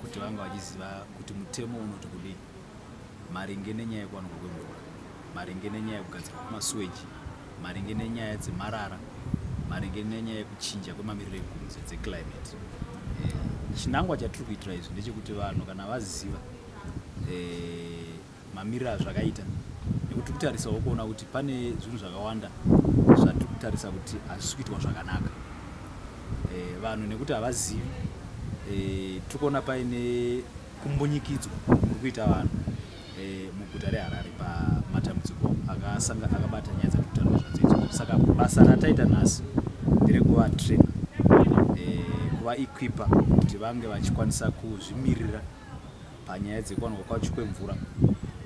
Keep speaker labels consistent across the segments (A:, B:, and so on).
A: kuti vanga vachiziva kuti mutemo unoti kudii maringe nenyaya yekuwanikwa kwemvura maringe nenyaya yekugadzirwa kwemasuweji maringe nenyaya dzemarara maringe nenyaya yekuchinja kwemamiriro ekunze dzeclimate eh, chinangwa chatiri kuitira izvi ndechekuti vanhu kana vaziva eh, mamiriro azvakaita nekuti tiri kutarisawo kuona kuti pane zvinhu zvakawanda zvatiri kutarisa kuti hazvisi kuitwa zvakanaka eh, vanhu nekuti havazivi eh, tiri kuona paine kumbunyikidzwa kuri kuita vanhu eh, muguta reharare pamatambudziko akabata nyaya dzatiri kutaura zvadzaidzo saka basa rataita nhasi nderekuva train kuva equipa kuti vange vachikwanisa kuzvimirira panyaya dzekuwanikwa kwacho kwemvura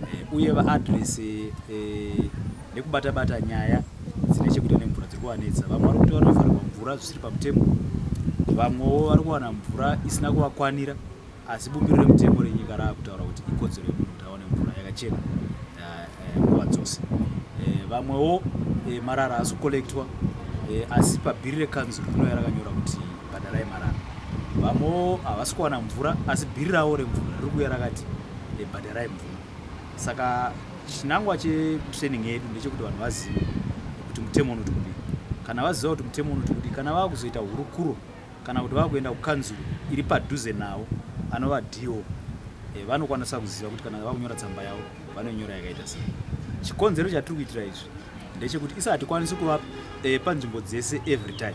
A: eh, uye vaadrese eh, nekubatabata nyaya dzine chekuita nemvura dziri kuvanetsa vamwe vari kuti vanofanirwa mvura zvisiri pamutemo vamwewo vari kuwana mvura isina kuvakwanira asi bumbiro remutemo renyika rava kutaura kuti ikodzero yemunhu kuti awane mvura yakachena eh, nguva dzose vamwewo marara asi kukolektwa asi pabhiri rekanzuru rinoya rakanyora kuti bhadharai marara vamwewo havasi kuwana mvura asi bhiri ravo remvura riri kuya rakati eh, bhadharai mvura saka chinangwa chetraining yedu ndechekuti vanhu vazive kuti mutemo unoti kudii kana vaziva kuti mutemo unoti kudii kana vava kuzoita hurukuro kana kuti vava kuenda kukanzuru iri padhuze navo anova do eh, vanokwanisa kuziva kuti kana vava kunyora tsamba yavo vanonyora yakaita sei chikonzero chatiri kuitira izvi ndechekuti isati kwanisi kuva eh, panzvimbo dzese every time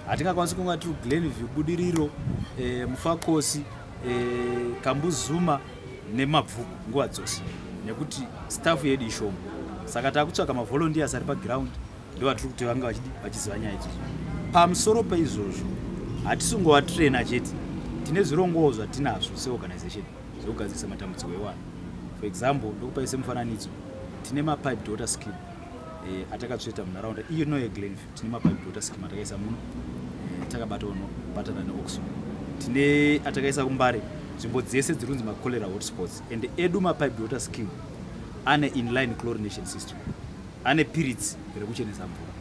A: hatingakwanisi kunga tiri glenview budiriro e, mufakosi e, eh, kambuzuma nemabvuku nguva dzose nekuti staff yedu ishoma saka takutsvaga mavolunteers ari paground ndovatiri kuti vanga vachiziva nyaya idzozo pamusoro peizvozvo hatisingova traina chete tine zvirongowo zvatinazvo seorganization zvekugadzirisa matambudziko ewana for example ndokupaise mufananidzo tine mapipe daughter scheme e, atakatsveta munharaunda iyo no yeglenview tine mapipe water scheme atakaisa muno eh, takabatawo nobatana neoxo tine atakaisa kumbare nzvimbo dzese dziri kunzi macholera hotspots and edu mapipe water scheme ane inline chlorination system ane piritsi rekuchenesa mvura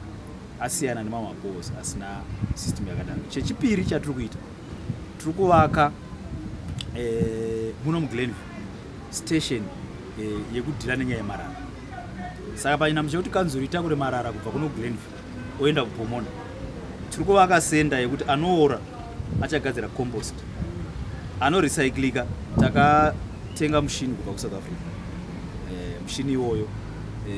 A: asiyana nemamwe mabos asina system yakadaro chechipiri chatiri kuita tiri kuvaka eh, muno muglenview station eh, yekudhila nenyaya yemarara saka panyinamo chekuti kanzuru itakure marara kubva kuno glenview oenda kupomona tiri kuvaka senda yekuti anoora achagadzira compost anorecyclika takatenga mushini kubva kusouth africa e, mushini iwoyo e,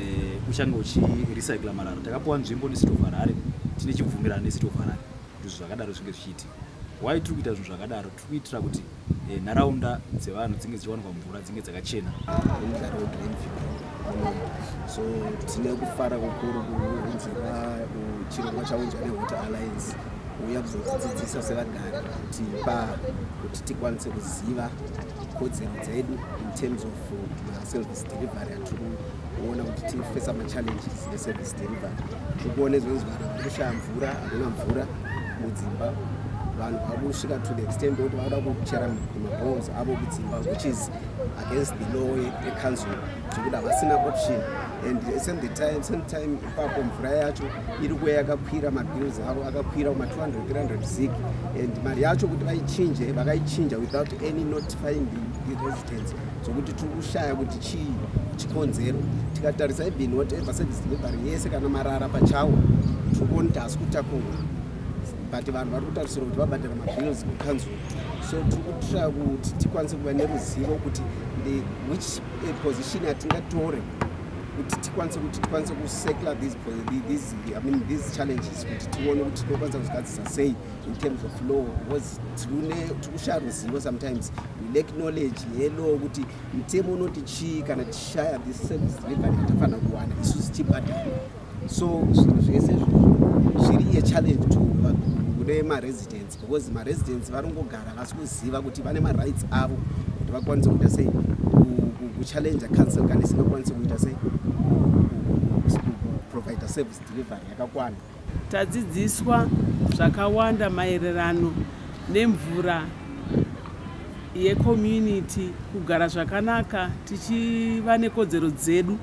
A: uchange uchirecycla marara takapiwa nzvimbo necity of harare tine chibvumirano necity of harare kuti zvinhu zvakadaro zvinge zvichiitika why tiri kuita zvinhu zvakadaro kuitira kuti eh, nharaunda dzevanhu dzinge dzichiwanikwa mvura dzinge dzakachena so
B: tine kufara kukuru kunzira chirongwa chaunzwa newater alliance kuuya kuzodzidzidzisa sevagari kuti pa kuti tikwanise kuziva kodzero dzedu in terms of uh, service delivery yatiri kuona kuti tiri kufesa machallenges neservice delivery tiri kuona izvonzi vanhu vari kushaya mvura havana mvura mudzimba vanhu vari kusvika to the extent yokuti vakuda kuchera mabons avo kudzimba which is against the law yecouncil zvekuti havasina option and same the time same time ipapo mvura yacho iri kuya yakakwira mabills avo akakwira kuma 200 zig and mari yacho kuti vaichinje vakaichinja without any notifying the residence zvokuti tiri kushaya kuti chii chikonzero tikatarisa even whatever service delivery yese kana marara pachawo tiri kuona kuti hasi kutakurwa but vanhu vari kutarisira kuti vabhadhara mabills kukanzura so tiri kutraya kuti tikwanise kuva neruzivo kuti the which eh, position yatingatore kuti tikwanise kuti tikwanise kusekla these, these, I mean, these challenges kuti tione kuti tinokwanisa kuzigadzisa sei in terms of law was tine tikusha ruzivo sometimes we lack knowledge yelaw kuti mutemo unoti chii kana tishaya this service delivery yatafanira kuwana isu zichibhadhara so zvinhu zvese zviri achallenge to kune maresidents because maresidents vanongogara vasi kuziva kuti vane marights avo kuti vakwanise kuita sei kuchallenge council kana isingakwanise kuita sei kuprovider service delivery yakakwana Tadzidziswa
C: zvakawanda maererano nemvura yecommunity kugara zvakanaka tichiva nekodzero dzedu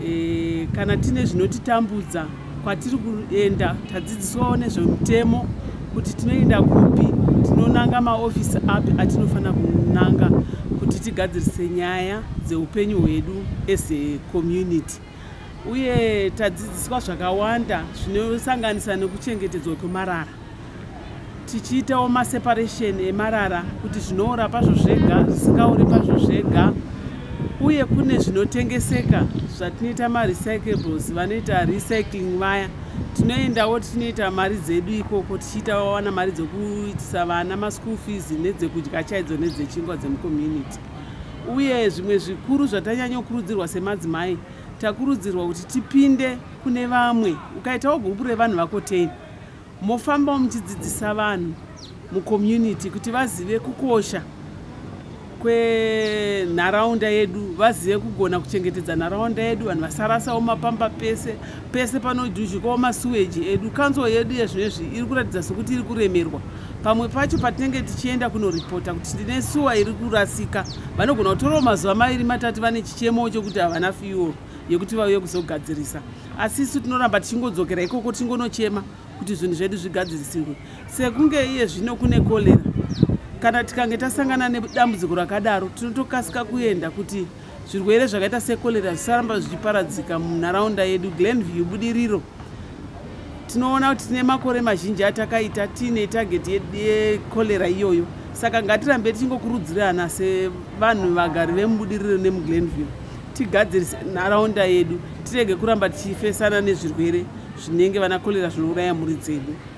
C: e, kana tine zvinotitambudza kwatiri kuenda tadzidziswawo nezvemutemo kuti tinoenda kupi tinonanga maofisi api atinofanira kunanga kuti tigadzirise nyaya dzeupenyu hwedu as a community uye tadzidziswa zvakawanda zvinosanganisa nekuchengetedzwa kwemarara tichiitawo maseparation emarara kuti zvinoora pazvo zvega zvisingaori pazvo zvega uye kune zvinotengeseka zvatinoita marecyclables vanoita recycling vaya tinoendawo tichinoita mari dzedu ikoko tichiita wawana mari dzekuitisa vana maschool fees nedzekudya chaidzo nedzechingwa dzemucommunity uye zvimwe zvikuru zvatanyanyokurudzirwa semadzimai takurudzirwa kuti tipinde kune vamwe ukaitawo gupu revanhu vakotei mofambawo muchidzidzisa vanhu mucommunity kuti vazive kukosha kwenharaunda yedu vazive kugona kuchengetedza nharaunda yedu vanhu vasarasawo mapamba pese pese panoduzhikawo masuweji edu kanzuro yedu yezvinezvi iri kuratidza sokuti iri kuremerwa pamwe pacho patinenge tichienda kunoripota kuti ndine suwa iri kurasika vanogona kutorawo mazuva maviri matatu vane chichemo chokuti havana fiwo yekuti vauye kuzogadzirisa asi isu tinoramba tichingodzokera ikoko tichingonochema kuti zvinhu zvedu zvigadzirisirwe sekunge iye zvino kune kolera kana tikange tasangana nedambudziko rakadaro tinotokasika kuenda kuti Zvirwere zvakaita secholera zvisaramba zvichiparadzika munharaunda yedu Glenview Budiriro. Tinoona kuti tine makore mazhinji atakaita tiine target yecholera iyoyo, saka ngatirambe tichingokurudzirana sevanhu vagari vemubudiriro nemuglenview tigadzirise nharaunda yedu tirege kuramba tichifesana nezvirwere zvinenge vana cholera zvinouraya mhuri dzedu.